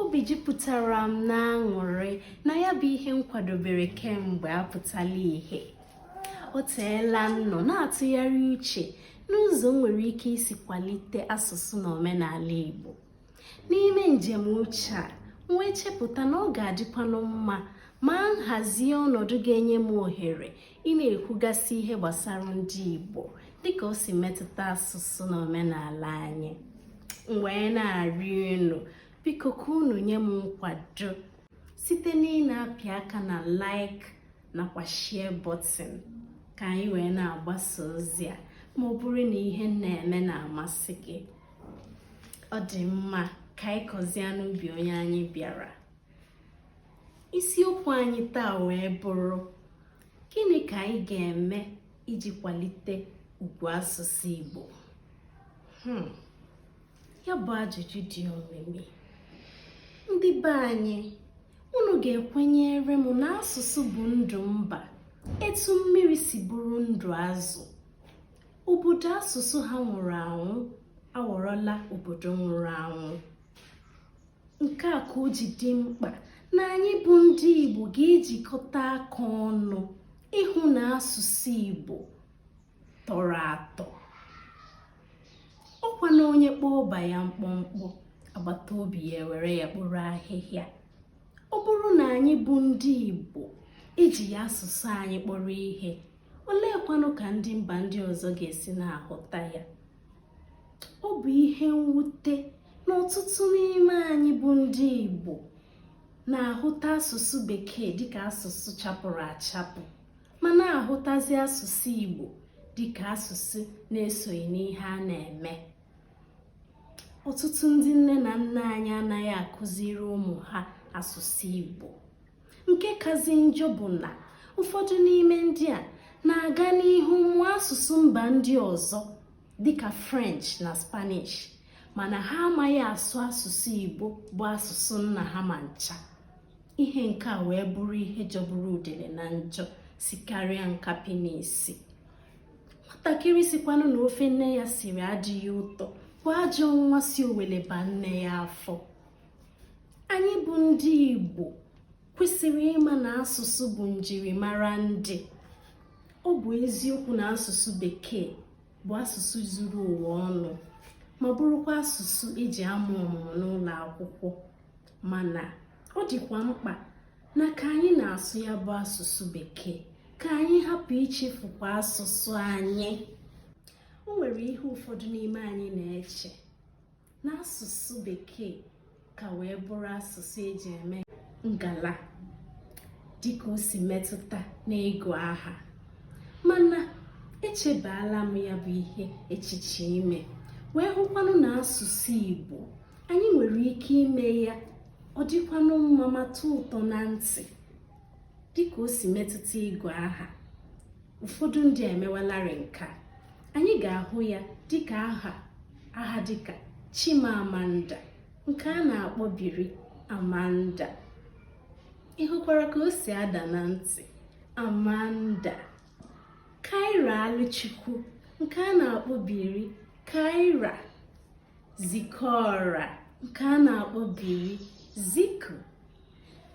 obi jupụtara m n'aṅụrị na ya bụ ihe m kwadobere kemgbe apụtala ihe o teela m nọ na-atụgharị uche n'ụzọ m nwere ike isi kwalite asụsụ na omenala Igbo n'ime njem uche a m wee chepụta na ọ ga-adịkwanụ mma ma m hazie ọnọdụ ga-enye m ohere ị na-ekwugasị ihe gbasara ndị Igbo dịka o si metụta asụsụ na omenala anyị m wee na-arịọ unu biko ka unu nye m nkwado site na ị na-apị aka na like nakwa share button ka anyị wee na-agbasa ozi a ma ọ bụrụ na ihe m na-eme na-amasị gị ọ dị mma ka anyị kọzie n'ubi onye anyị bịara isiokwu anyị taa wee bụrụ gịnị ka anyị ga-eme iji kwalite ugwu asụsụ Igbo hmm. ya bụ ajụjụ dị omimi ndị be anyị unu ga-ekwenyere m na asụsụ bụ ndụ mba etu mmiri si bụrụ ndụ azụ obodo asụsụ ha nwụrụ anwụ aghọrọla obodo nwụrụ anwụ nke a ka o ji dị mkpa na anyị bụ ndị Igbo ga-ejikọta aka ọnụ ịhụ na asụsụ Igbo tọrọ atọ ọkwa na onye kpọọ ọba ya mkpọmkpọ agbata obi ya ewere ya kporo ahịhịa ọ bụrụ na anyị bụ ndị Igbo ejighị asụsụ anyị kpọrọ ihe oleekwanụ ka ndị mba ndị ọzọ ga-esi na-ahụta ya ọ bụ ihe mwute na ọtụtụ n'ime anyị bụ ndị Igbo na-ahụta asụsụ bekee dịka asụsụ chapụrụ achapụ ma na-ahụtazi asụsụ Igbo dịka asụsụ na-esoghị n'ihe a na-eme ọtụtụ ndị nne na nna anyị anaghị akụziri ụmụ ha asụsụ Igbo nke kazị njọ bụ na ụfọdụ n'ime ndị a na-aga n'ihu mụọ asụsụ mba ndị ọzọ dịka french na spanish mana ha amaghị asụ asụsụ igbo bụ asụsụ nna ha ma ncha ihe nke a wee bụrụ ihe jọgburu udele na njọ sikarịa nkapị n'isi nwatakịrị sịkwanụ na ofe nne ya siri adịghị ụtọ bụ ajọ nwa si owele baa nne ya afọ anyị bụ ndị Igbo kwesịrị ịma na asụsụ bụ njirimara ndị ọ bụ eziokwu na asụsụ bekee bụ asụsụ zuru ụwa ọnụ ma bụrụkwa asụsụ e ji amụ ọmụmụ n'ụlọ akwụkwọ mana ọ dịkwa mkpa na ka anyị na-asụ ya bụ asụsụ bekee ka anyị hapụ ichefukwa asụsụ anyị o nwere ihe ụfọdụ n'ime anyị na-eche n'asụsụ bekee ka wee bụrụ asụsụ eji eme ngala dịka o si metụta n'ịgụ aha mana echebaala m ya bụ ihe echiche ime wee hụkwanụ na asụsụ Igbo anyị nwere ike ime ya ọ dịkwanụ mma ma tọọ ụtọ na ntị dịka o si metụta ịgụ aha ụfọdụ ndị emewalarị nke a anyị ga-ahụ ya dịka aha aha dịka Chimamanda nke a na-akpọbiri Amanda ị hụkwara ka o si ada na ntị Amanda Kairaluchukwu nke a na-akpọbiri Kaira Zikora nke a na-akpọbiri Ziko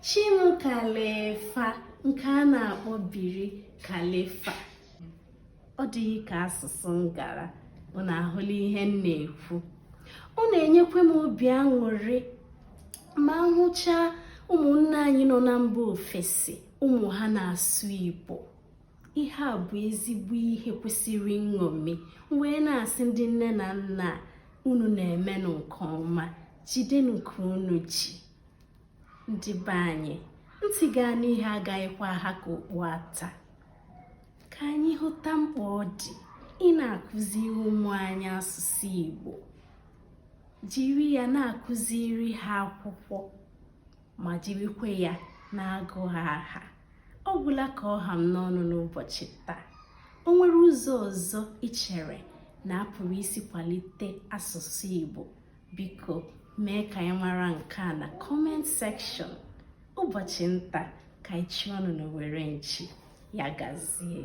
Chimkalifa nke a na-akpọbiri Kalifa ọ dịghị ka asụsụ ngara unu ahụla ihe m na-ekwu ọ na-enyekwa m obi aṅụrị ma hụchaa ụmụnne anyị nọ na mba ofesi ụmụ ha na-asụ Igbo ihe a bụ ezigbo ihe kwesịrị nṅomi m wee na-asị ndị nne na nna unu na-emenụ nke ọma jidenụ ka unu ji ndị be anyị ntị ga-anụ ihe agaghịkwa aha ka okpu ata ka anyị hụta mkpa ọ dị ịna-akụziri ụmụ anyị asụsụ Igbo jiri ya na-akụziri ha akwụkwọ ma jirikwa ya na-agụ ha aha ọ gwụla ka ọ ha m n'ọnụ n'ụbọchị taa o nwere ụzọ ọzọ i chere na a pụrụ isi kwalite asụsụ Igbo biko mee ka anyị mara nke a na comment section ụbọchị nta ka anyị chụọnụ n'owere nchi ya gazie